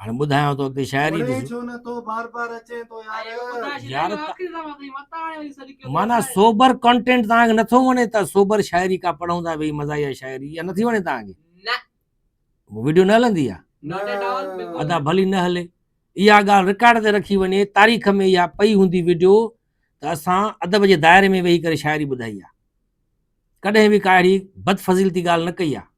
هاڻي ٻڌايانء تو اڳتي شاعري ڏس. يار معنيٰ سوبر ڪنٽينٽ توهان کي نٿو وڻي ته سوبر شاعري ڪا پڙهون ٿا ويهي مزاحيه شاعري اها نٿي وڻي توهان کي؟ نه وڊيو نه هلندي آ؟ ادا ڀلي نه هلي اها ڳالهه رڪارڊ تي رکي وڃي تاريخ ۾ اها پئي هوندي وڊيو ته اسان ادب جي دائري ۾ ويهي ڪري شاعري ٻڌائي آ ڪڏهن به ڪا اهڙي بدفضيلتي ڳالهه نه ڪئي آ.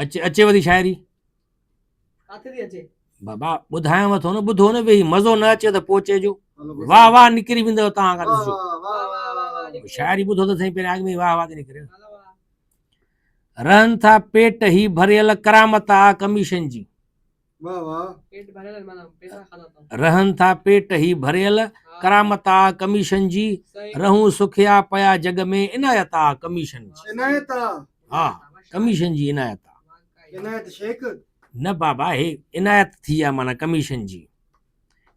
اچي اچيو ٿي شاعري ڪاٿي ٿي اچي بابا ٻڌايان وٿو نه ٻڌو نه ويهي مزو نه اچي ته پوء چئجو واهه واهه نڪري ويندو تان کان ڏسجو شاعري ٻڌو ته سائين پهريان اڳ ۾ واهه واهه ٿي نڪري رهن ٿا پيٽ هي ڀريل ڪرامت آ ڪميشن جي رهن ٿا پيٽ هي ڀريل ڪرامت آ ڪميشن جي رهون سکيا پيا جڳ ۾ عنايت آ ڪميشن جي عنايت آ ها ڪميشن جي عنايت آ عنايت شيخ نه بابا هي عنايت ٿي آ معنی ڪميشن جي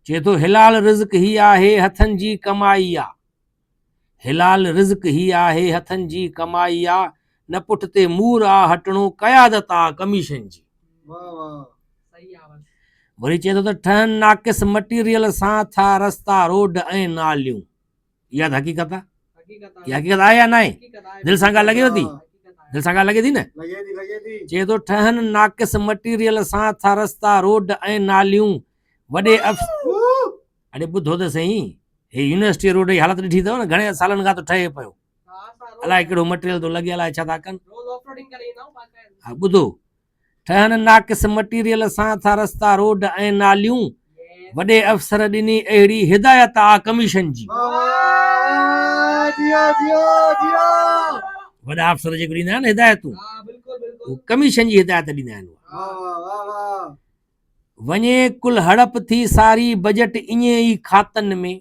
چي ٿو حلال رزق هي آهي هٿن جي ڪمائي آ حلال رزق هي آهي هٿن جي ڪمائي آ نه پٺتي مور آ هٽڻو قيادت آ ڪميشن جي. وري چئي ٿو ته ٺهن ناقص مٽيريل سان ٿا رستا روڊ ۽ ناليون اها ته حقيقت آ اها حقيقت آهي يا ناهي دل سان ڳالهه لڳيو ٿي دل سان ڳالهه لڳي ٿي نه چئي ٿو ٺهن ناقص مٽيريل سان ٿا رستا روڊ ۽ ناليون وڏي اف اڙي ٻڌو ته سهي هي يونيورسٽي روڊ جي حالت ڏٺي اٿو نه گهڻي سالن کان ٿو ٺهي پيو الاء ڪهڙو مٽيريل ٿو لڳي الاء ڇا ٿا ڪن ها ٻڌو ٺهن ناقص مٽيريل سان ٿا رستا روڊ ۽ ناليون وڏي افسر ڏني اهڙي هدايت آ ڪميشن جي وڏا افسر جيڪو ڏيندا آهن هدايتون ڪميشن جي هدايت ڏيندا آهن وڃي ڪل هڙپ ٿي ساري بجيٽ ائين ئي کاتن ۾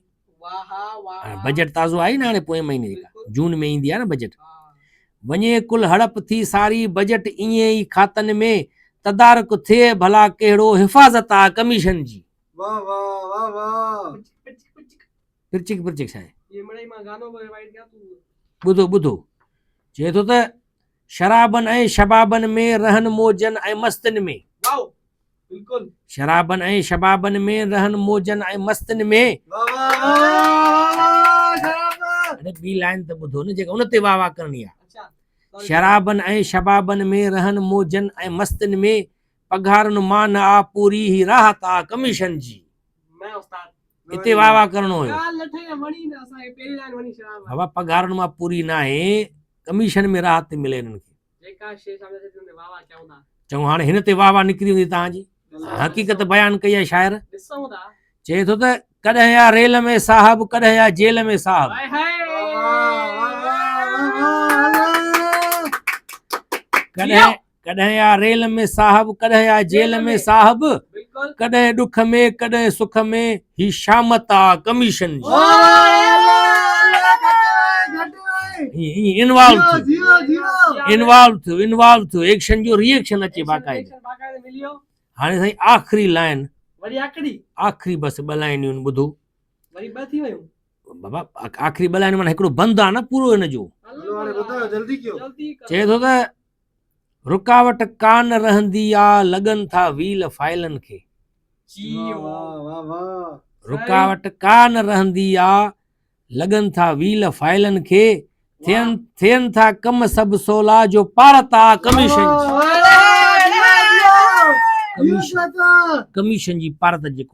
بجيٽ تازو آئي نا هاڻي پوئين مهيني جون ۾ ايندي آ نا بجيٽ وڃي ڪل هڙپ ٿي ساري بجيٽ ائين ئي کاتن ۾ تدارڪ ٿئي ڀلا ڪهڙو حفاظت آ ڪميشن جي واه واه واه پرچڪ پرچڪ ڇا آهي ٻڌو ٻڌو چئي ٿو ته شرابن ۽ شبابن ۾ رهن موجن ۽ مستين ۾. واو بلڪل. شرابن ۽ شبابن ۾ رهن موجن ۽ مستين ۾. واھ واھ واھ واھ واھ شرابن. اڙي ٻي لائن ته ٻڌو نه جيڪا ان تي واھ واھ ڪرڻي آ. اچھا سوري. شرابن ۽ شبابن ۾ رهن موجن ۽ مستين ۾. پگهارن مان نه آ پوري هي راحت آ ڪميشن جي. نه استاد. اتي واھ واھ ڪرڻو هيو. ڳالھ لٺ ائين وڻي نه اسان کي پهرين لائن وڻي شرابن. بابا پگهارن مان پوري ناهي ڪميشن ۾ راحت ٿي ملي هنن کي. جيڪا شيء سامهون اچي ٿي ان تي واهه واهه ڪيون ٿا. چڱو هاڻي هن تي واهه واهه نڪري ويندي توهان جي حقيقت بيان ڪئي آهي شاعر. ڏسون ٿا. چئي ٿو ته ڪڏهن آ ريل ۾ صاحب ڪڏهن آ جيل ۾ صاحب. ڪڏهن ڪڏهن آ ريل ۾ صاحب ڪڏهن آ جيل ۾ صاحب ڪڏهن ڏک ۾ ڪڏهن سک ۾ هي شامت آ ڪميشن ايڪشن جو ريئيڪشن اچي باقاعده هاڻي سائين آخري لائن آخري بس ٻه لائنيون ٻڌو بابا آخري ٻه لائنيون مانا هڪڙو بند آ نه پورو هن جو چئي ٿو ته رڪاوٽ ڪا نه رهندي آ لڳن ٿا ويل فائلن کي. رڪاوٽ ڪا نه رهندي آ لڳن ٿا ويل فائلن کي ٿين ٿين ٿا ڪم سڀ سولا جو پارت آ ڪميشن جي ڪميشن جي پارت جيڪو